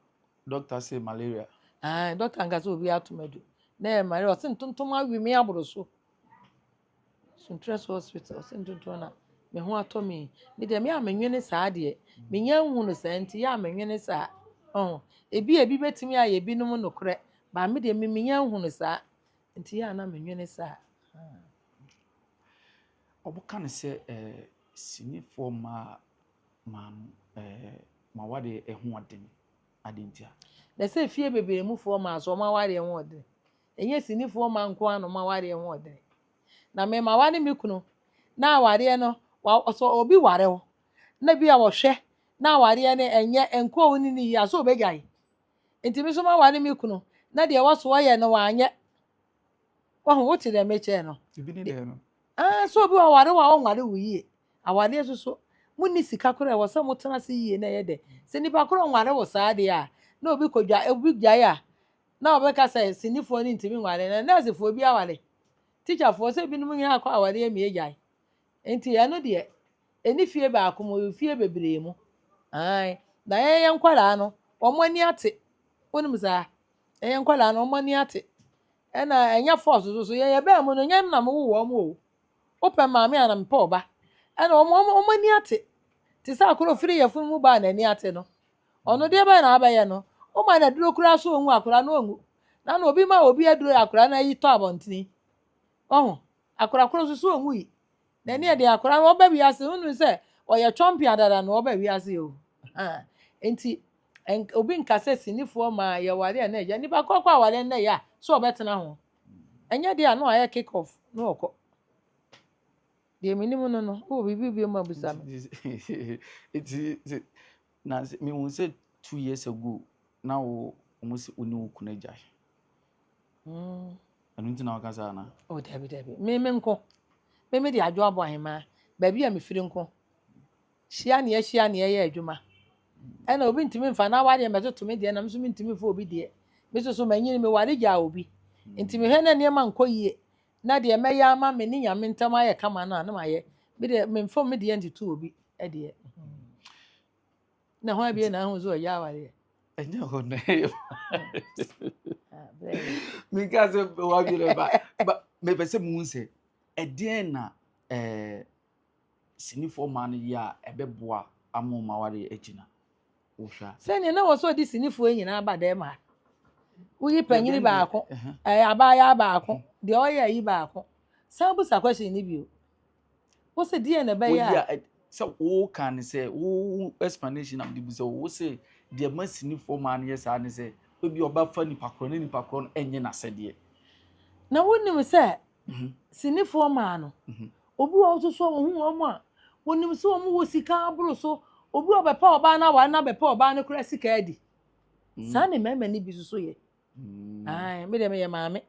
doctor say malaria. Ah doctor nka sɛ obi ato madu. Na ɛyɛ malaria ɔsɛ ntontom awe me aboro so. Suntress hospital ɔse ntontoɔ na me ho atɔ me yi me deɛ me a menwene saa deɛ menya nhu no saa nti yɛ a menwene saa ɔho ebi ebi bɛtumi ayɛ binom nokorɛ baa me deɛ me menya nhu no saa nti yɛ a na menwene saa. Wɔka no sɛ eh, sinifoɔ mmaa maa no eh, ma wadeɛ ɛho ɔden adeɛ ntia. Na sɛ fie bebree mufoɔ maa so wɔn awareɛ ho ɔden Ɛnyɛ sinifoɔ mma nko ara na wɔn awareɛ ho ɔdene. Na me mawa ne me kunu na awareɛ no wa sɛ obi ware wo na bi a wɔhwɛ na awareɛ no ɛnyɛ nkɔɔ wo ne ne yie a sɛ ɔbɛgyae. Nti me nso mawa ne me kunu na deɛ ɛwɔ so ɔyɛ no wanyɛ. Wahu wote deɛ mekyɛɛ no. Ebi ne dɛn no? Ah, sɛ obi waware wo a ɔnware wo yie. Awareɛ nso so monni sika korɔ ɛwɔ sɛ motena ase yie na ɛyɛ dɛ. Sɛ nipa korɔ nware wo saa deɛ a na obi kɔdwa obi gyae a na wɔbɛka sɛ sinifoɔ no ntumi nware no, nɛɛsefoɔ bi aware, tikyafoɔ, sɛ binom nyinaa akɔ awareɛ mmie agyae. Nti ɛno deɛ, ɛnni fie baako mu, ɛwɔ fie bebree mu. Aane, na yɛyɛ nkwadaa no, wɔn ani ate. Wonim saa? Yɛyɛ nkwadaa no, wɔn ani ate. Ɛna ɛnyɛ force so so, yɛn yɛbaa mu no, nyɛ me na mewoo wɔn o. Wopɛ me maame a, na mepɛ wo ba. Ɛna wɔn, wɔn, wɔn ani ate. Te sɛ akoro firi yafunu mu ba a n'ani ate no, Ɔno deɛ bɛn na abɛyɛ no? Woma no aduro koraa so ɔnwu akwadaa no ɔnwu. Nana obi ma obi aduro yɛ akwadaa no ayi tɔ abɔntene. Wahu? Akwadaa koro nso so ɔnwui. Na ɛneɛ deɛ akwadaa no ɔba wiase no wonunu sɛ ɔyɛ twɔmpea dada na ɔba wiase o. Nti obi nka sɛ sinifoɔ ma yɛware a na ɛyɛ. Nipa korɔ kɔ aware nnɛ yɛ a so ɔbɛtena ho? Ɛnyɛ deɛ a na wayɛ kick off na ɔkɔ. Deɛ menim no no, wowɔ biribi bio ma bisa me. Nti sɛ na sɛ mehu sɛ two years ago na wo wɔn sɛ wo ne wo kunu agyae. Mm. Ɛno nti na waka saa na. Oh, dabi dabi. Me me nko. Me me de adwo abɔ ahemaa. Baabi a mefiri nko. Hyia ne ahyia ne ɛyɛ adwuma. Ɛna obi ntumi mfa na wadeɛ mɛtoto me deɛ na nso mentumi mfa obi deɛ. Me nso so manyini me ware gyaa obi. Nti mehwɛ na nneɛma nkɔ yie. na deɛ mɛyɛ ama me ne nyame ntam ayɛ kama no a na mayɛ me deɛ memfam me deɛ ntoto obi deɛ na hwan bie na ahu sɛ ɔyɛ awareɛ ɛnyɛ hɔ no meka sɛ wadwerɛ ba mepɛ sɛ mu sɛ ɛdeɛn na sinifoɔ mmaa no yɛ a ɛbɛboa ama wɔn awareɛ agyina? Wohwɛ a. Sɛnea na wɔsɔ de sinifoɔ nyinaa ba dɛm a woyi panyini baako, ɛɛ abaayaa baako, deɛ ɔyɛ ayi baako. San busa question no bio. Wo se deɛ na ɛbɛyɛ a. Woyi a sɛ woka ne sɛ wo explanation am de bu sɛ wo se deɛ ma sinifoɔ mmaa no yɛ saa ne sɛ ebi ɔbɛfa nipa korɔ ne nipa korɔ no nyɛ n'asɛdeɛ. Na wonim sɛ mhm. sinifoɔ maa no mhm. obi wɔ nso so wɔn ho wɔn a wɔnim sɛ wɔn wɔ sika aboro so obi wɔ bɛpɛ ɔbaa na wɔn na bɛpɛ ɔbaa no kora sika adi mhm. saa ne mmarima no bi soso yɛ ɛn mi deɛ mi yɛ maame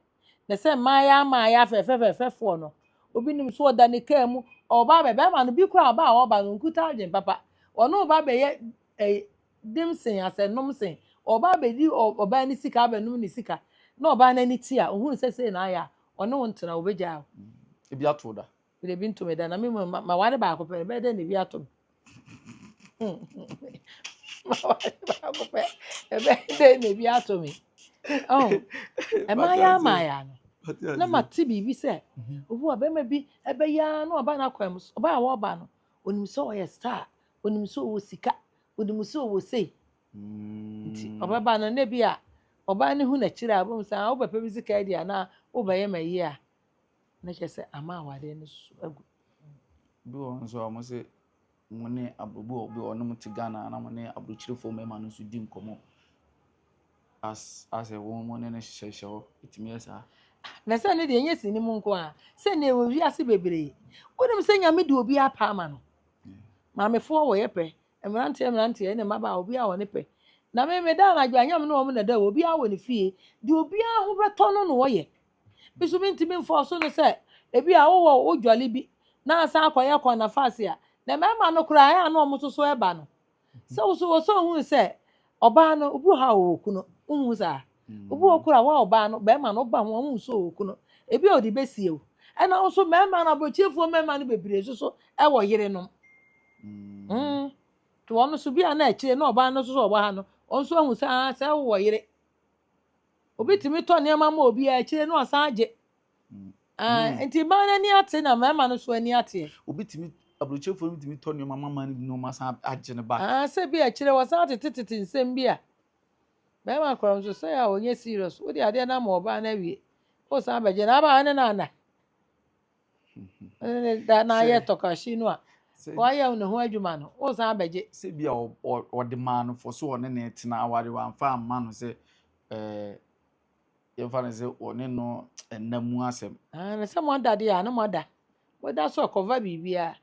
na sɛ mmaayɛ amaayɛ afɛfɛfɛfɛfoɔ no obi nim so ɔda ne kaa mu ɔbaa bɛ bɛrima no bi kora ɔbaa ɔba no nkuta adwene papa wɔn ɔba bɛyɛ ɛɛ. dem sen asɛnnom sen ɔbaa bɛdi ɔbaa no sika abɛnom ne sika na ɔbaa no ani te a ɔhunu sɛ sei na ayɛ a ɔne wo ntena wobɛgyaa wo. Mm, ebi ato da. Bere bi nto me da na me mu ma ware baako pɛ bɛyɛ dɛ na ebi ato me. Ma ware baako pɛ ɛbɛyɛ dɛ na ebi ato me. Oh, ɛmaa yɛ ama yɛ ano. Na ma te biribi sɛ mhm. obi wɔ bɛrima bi ɛbɛyɛ na ɔba n'akwan mu ɔba a wɔba no onim sɛ ɔyɛ star onim sɛ ɔwɔ sika onim sɛ ɔwɔ sei nti mm. ɔbɛba no na bi a ɔbaa no hu n'akyiri a ɔbɛhu sɛ ah, wobɛpɛ bi sika adi anaa wobɛyɛ ma yie a na kyerɛ sɛ ama awadeɛ no so agu bi wɔ nso a wɔn sɛ mo ne abubu obi a wɔn te ghana na mo ne aburukyirifoɔ mmarima no nso di nkɔmɔ Asɛ wɔn mu ne no hyehyɛhyehyɛ hɔ, ɛtumi yɛ saa. Na sɛ ne deɛ ɛnyɛ sini mu nko a sɛ ne ɛwɔ wiase bebree wonim sɛ nyame de obi apa ama no maamefoɔ wɔyɛ pɛ mmeranteɛ mmeranteɛ ne mmabaa obi a wɔne pɛ na me meda anadwo a nyame ne wɔn na da wɔ obi a wɔ ne fie deɛ obi a ho bɛtɔ no na wɔyɛ bi so mentumi mfɔ so no sɛ ebi a wowɔ wodwale bi na asan akɔyɛ kɔn na faase a na mmarima no koraa ɛyɛ a na wɔn soso ɛba no Sɛ wo so wɔ sɛ ohun sɛ ɔbaa no obi wɔ hɔ a ɔwɔ kunu. Wohu saa? Obi wɔ koro a wa ɔbaa no bɛrima no ɔba ho a wohu sɛ ɔwɔ kunu. Ebi a ɔde bɛsie wo. Ɛna wo so mmarima no aborɔkyefoɔ mmarima no bebree nso so wɔ yerenom. Mm. To ɔno so bi a na akyire na ɔbaa no nso so ɔwɔ ha no ɔno nso ahu sɛ ah sɛ wowɔ yere. Obi tumi tɔ nneɛma ma obi a akyire na ɔsan agye Ah, nti mmaa no ani ate na mmarima no nso ani ateɛ. obi tumi aburokyefo no tumi tɔ nneɛma mama no bi na ɔma san agye no back. Ah, sɛ bi a ɛkyerɛ wɔsan atetetete nsɛm bi a bɛrima kora nso sɛ a ɔnyɛ serious wode adeɛ no ama ɔbaa no awie wosan bɛgye na aba ne no ana ne da na ayɛ tɔkahye no a wayɛ ne ho adwuma no wosan bɛgye sɛ bi a ɔde maa no fɔ so ɔne ne tena aware wamfa amma no sɛ eh, yɛmfa no sɛ wɔne no nna mu asɛm. Ah, na sɛ moada deɛ a na moada moda so ɛkɔva biribiara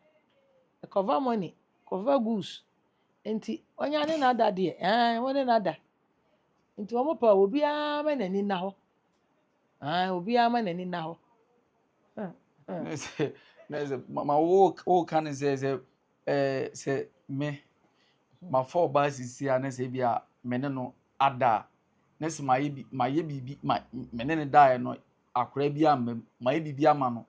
ɛkɔva money ɛkɔva goose nti ɔnya ne n'ada deɛ ah wɔne n'ada nti wɔn pɛ obiara ma n'ani nna hɔ ah obiara ma n'ani nna hɔ. na sɛ ma wo wo ka ne sɛ sɛ ɛɛ sɛ me ma fɔ ɔbaa sisi a na sɛ bi a me ne no ada na se mayɛ bi mayɛ biribi ma me ne no daeɛ no akwadaa bi amma mu, mayɛ biribi ama no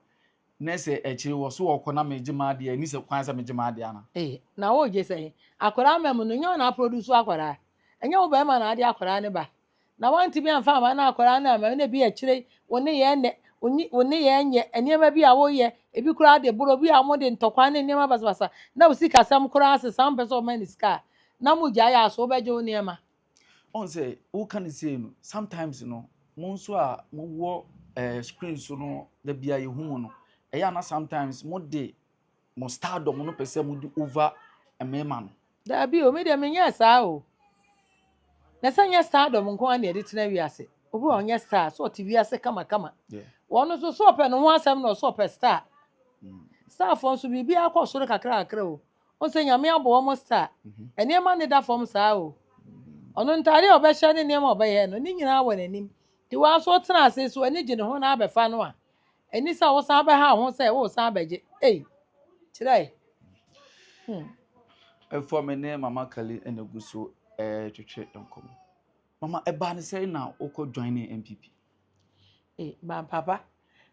na sɛ akyire yi ɔse ɔkɔ na megye m'adeɛ a, ɛnni sɛ kwan sɛ megye m'adeɛ anaa? Ei, na wogye sɛn? Akwadaa amma mu no, nyɛ wo na aprodusu akwadaa. Ɛnyɛ wo barima na ade akwadaa no ba. Na woantumi amfa amma na akwadaa no amma mu na ebia akyire yi wo nneyɛɛ nnɛ, wo nyi wo nneyɛɛ nyɛ, nneɛma bi a woyɛ, ebi koraa de boro, bi a wɔde ntɔkwa ne nneɛma basabasa na wo sikasɛm koraa sesa a wompɛ sɛ wɔma no sika a, Na mo gyae a, so wobɛgye wo nneɛma? Wohu sɛ woka no sei no, sometimes no, mo nso a mowɔ eh, screen so no, da bi a yɛhu mo no, ɛyɛ a na sometimes mode mo stardom no pɛ sɛ mode over mmarima no. Daabi o, me deɛ menyɛɛ saa o. Na sɛ nyɛ stardom nko ara na yɛde tena wiase. Obi wɔ hɔ, ɔnyɛ star, so ɔte wiase kamakama. Yeah. Wɔn nso, so ɔpɛ ne ho asɛm na ɔso ɔpɛ star. Starfoɔ nso, biribiara kɔ soro kakrakakra o. Wohu sɛ Nyame abɔ wɔn star. Nneɛma nneda fam saa o. Ɔno ntaade a ɔbɛhyɛ ne nneɛma a ɔbɛyɛ no, ne nyinaa wɔ n'anim. Nti wo ara nso wotena ase nso w'ani gye ne ho na abɛfa no a, ɛnni sɛ wosan bɛhaw ho sɛ woresan abɛgye. Ei! Kyerɛ ɛ! Hmm. Ɛfɔ me ne Mama Kali na egu so retwetwe nkɔmmɔ. Mama, ɛbaa ne sɛn na wokɔ joine NPP? Ee, m'apapa.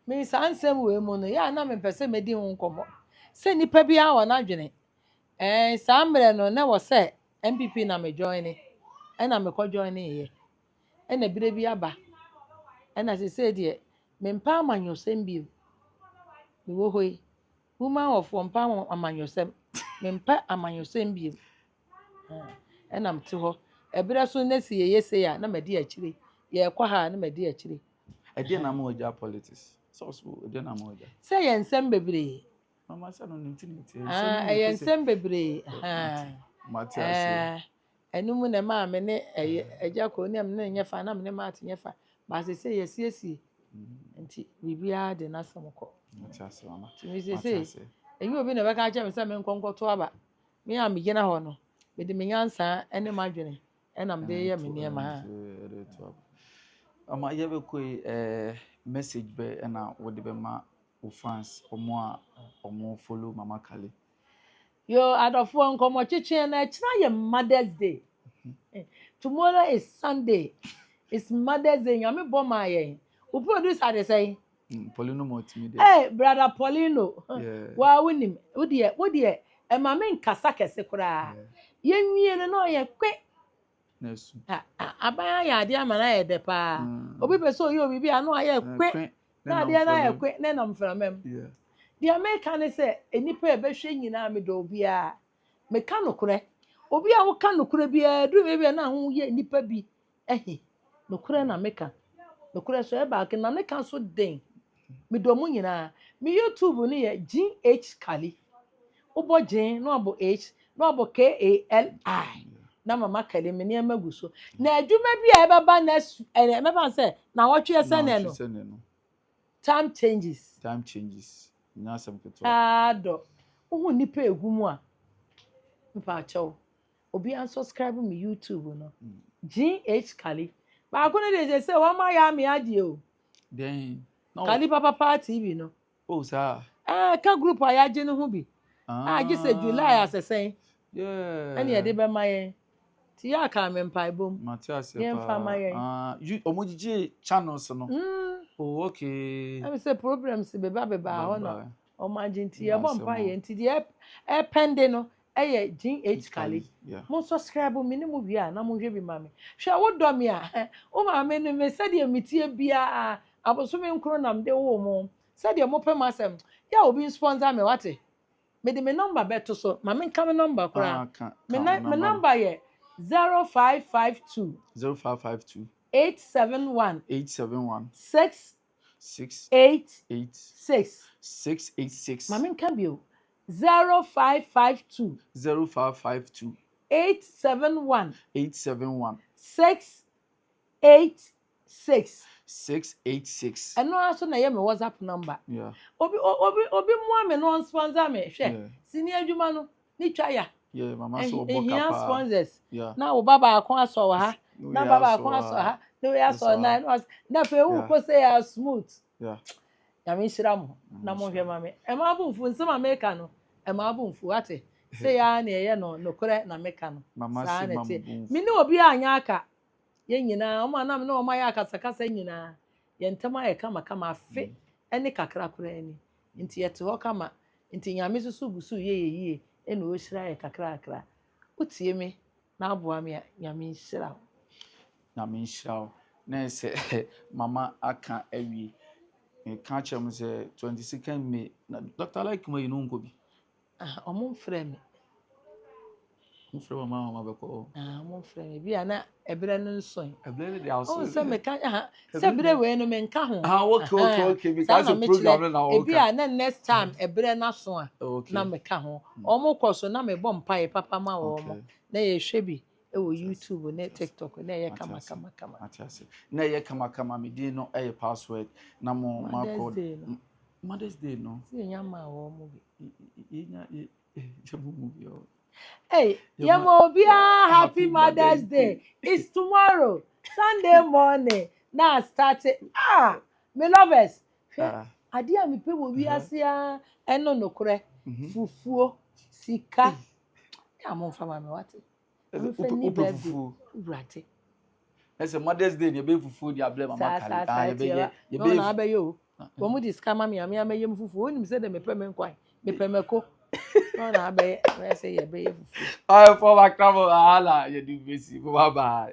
Me saa nsɛm wei mu no, yɛ a na mempɛ sɛ medi ho nkɔmmɔ. Sɛ nnipa biara wɔ n'adwene. Ɛɛ, saa mmerɛ no, na ɛwɔ sɛ NPP na me joine. Ɛna mekɔ joineeɛ. Ɛna berɛ bi aba. Ɛna sesei deɛ, mempɛ amanyɔsɛm bio. Mewɔ hɔ yi, woman wɔfoɔ mpɛ amanyɔsɛm. Mempɛ amanyɔsɛm bio. Aa ɛna mete hɔ. Ɛberɛ so na sɛ yɛyɛ sei a na madi akyire, yɛrekɔ ha a na madi akyire. Ɛdeɛn na ama wagya politics? Sɛ ɔso ɛdeɛn na ama wagya? Sɛ ɛyɛ nsɛm bebree. Mama sɛ no ne nti na ɛteɛ. Nsɛm Aa ɛyɛ nsɛm bebree. Aa Mate aseɛ. Aa ɛno mu na ɛmaa me ne ɛyɛ agya kɔ ne ɛmene nyɛ fa na me ne Matt nyɛ fa. Ba sese yɛasiesie. Nti biribiara de n'asɛm kɔ. Mate aseɛ mama. Nti me sese ɛnyɛ obi na ɛbɛka akyerɛ me sɛ menkɔ nkɔto aba. Me a megyina hɔ no, mede me nyansa ne m'adwene na mede reyɛ me nneɛma. Ama yɛbɛkɔ yi, eh, message bɛ ɛna wɔde bɛma wo fans wɔn a wɔn follow mama kale. yo adɔfoɔ nkɔmɔ kyekye na ɛkyerɛ yɛ mother's day mhm. tomorrow is sunday it's mother's day nyame bɔ maa yɛn wo producer de sɛn Mm, Paulino ma ɔtumi deɛ. Hey, brother Paulino, waa wonim wodeɛ wodeɛ ɛma me nkasa kɛse koraa. Yɛnwie no na ɔyɛ kwe. Aban ayɛ adeɛ ama no ayɛ dɛ paa. Mm. Obi pɛ sɛ ɔyɛ obi bi a na ɔyɛ kwe na adeɛ no ayɛ kwe na ɛnam mframa mu. Deɛ meka ne sɛ nnipa a ɛbɛhwɛ nyinaa medɔ obiara. Meka nokorɛ. Obi a woka nokorɛ biara duru baabi a na woyɛ nnipa bi Ahe, nokorɛ na meka. Nokorɛ so ɛba ake na ne ka so den. Medɔ mo nyinaa. Me YouTube no yɛ Jean H Kali. Wobɔ Jean na wabɔ H na wabɔ K-A-L-I na Mama Kali me nneɛma gu so. Na adwuma bi a ɛbɛba next ɛnɛ mɛfa sɛ na wɔtwe ɛsɛ nɛ no. Time changes. Time changes. Nyɛ asɛm ketewa. Aa dɔ. Wohu nipa egu mu a. Mpa akyɛw. obi unsubscribe me YouTube no. GH Kali. Baako no de sɛ sɛ wɔn ayɛ ame adeɛ o. Dɛn. Kali Papa Paa TV no. O saa. Ɛɛ ka group a yɛagye no ho bi. Ah. A gye sɛ July asɛsɛn. Yeah. Ɛne yɛde bɛma yɛn. Ti yɛ aka me mpaebɔ mu. Mate aseɛ paa. Yɛn fa ma yɛn. Ah, wɔn gyigye channels no. Mm. Oh, okay. Ɛmi sɛ problems beba beba hɔ na wɔn agye nti yɛbɔ mpa yɛn nti deɛ ɛpɛnde no ɛyɛ Jean H. Kali. Mo sɔskraibo me ne mo wie a na monhwɛ bi ma me. Hwɛ wo dɔ me a wo maame ne me sɛdeɛ me teɛ biaa abosome nkron na mede woo mo sɛdeɛ mo pɛ m'asɛm yɛ a obi nsponsor me wate mede me number bɛ to so ma me nka me number koraa me nan me number yɛ zero five five two zero five five two eight seven one eight seven one six six eight eight six six eight six ma me nka bio Zero five five two. Zero five five two. Eight seven one. Eight seven one. Six eight six. Six eight six. Ɛno ara so na ɛyɛ me WhatsApp number. Yeah. Obi obi obi mua me na ɔnsponsor me hwɛ. Yeah. Sini adwuma no ne twa ya. Yeah, mama so ɔbɔ kapa. Ehia sponsors. Yeah. Na wo ba baako asɔ wɔ ha. Na ba baako asɔ ha. Na wo yɛ asɔ nan. Na afei wo kɔ sɛ ya smooth. Yeah. nyame nhyira mo na monhwɛ ma me ɛma abomfuo nsɛm a meka no ɛma abomfuo ate sɛ yɛa ne ɛyɛ no nokorɛ na meka no Mama saa se na ma ɛteɛ mo bo me ne obi a anyɛ aka yɛn nyinaa ɔma nam ne ɔma yɛ akasakasa nyinaa yɛn ntam ayɛ kama kama afe ɛne kakra koraa ni nti yɛte hɔ kama nti nyame soso gu so yɛ yɛ yie ɛna ɔhyira yɛ kakra kakra wotie me Na aboa me a Nyame nhyira wo. Nyame nhyira wo na ɛsɛ mama aka awie meka kyerɛ mo sɛ twenty second may na dr like ma yi no nkɔ bi. Ah, ɔmo mfrɛ me. Mo frɛ mama mama bɛkɔ. Ah, ɔmo mfrɛ me bi a na ɛbrɛ no nso. Ɛbrɛ no de aso. Ɔmo sɛ meka ah sɛ berɛ wei no menka ho Ah, okay, okay, Ahaa, okay. Because saa na the mekyerɛ program no na ebi wɔka. a na next time ɛberɛ no aso a na Okay, meka ho wɔn kɔ so na mebɔ mpaeɛ papa ma wɔn okay. na yɛhwɛ bi wɔ Mate ase, youtube ne mate ase, tiktok na ɛyɛ mate kama ase, kama kama mate ase. Na ɛyɛ kamakama, me din no ɛyɛ password na mo mothers makɔ day no m- Mother's Day no. sɛ yɛnya maa wɔn bi Y- y- yɛnya yɛ- Hey, Yamobia, happy Mother's Day. It's tomorrow, Sunday morning. Now start it. Ah, my lovers. Ah. Ade a mepɛ wɔ wiase a ɛno nokorɛ fufuo sika na momfa ma me wate Ɛsɛ wopɛ wopɛ fufuo. Wurade. Ɛsɛ Mother's Day deɛ ɛbɛyɛ fufuo deɛ abrɛ mama kari. Saa saa yɛbɛyɛ yɛbɛyɛ. Na abɛyɛ o. Wɔn de sika ma mi a mi amɛyɛ mu fufuo. Wɔn nim sɛ dɛ mepɛ me nkwan mepɛ mɛko. Na na abɛyɛ mɛyɛ sɛ yɛbɛyɛ fufuo. Ɔyɛ fɔm akrabɔ ahala yɛ di besi baba.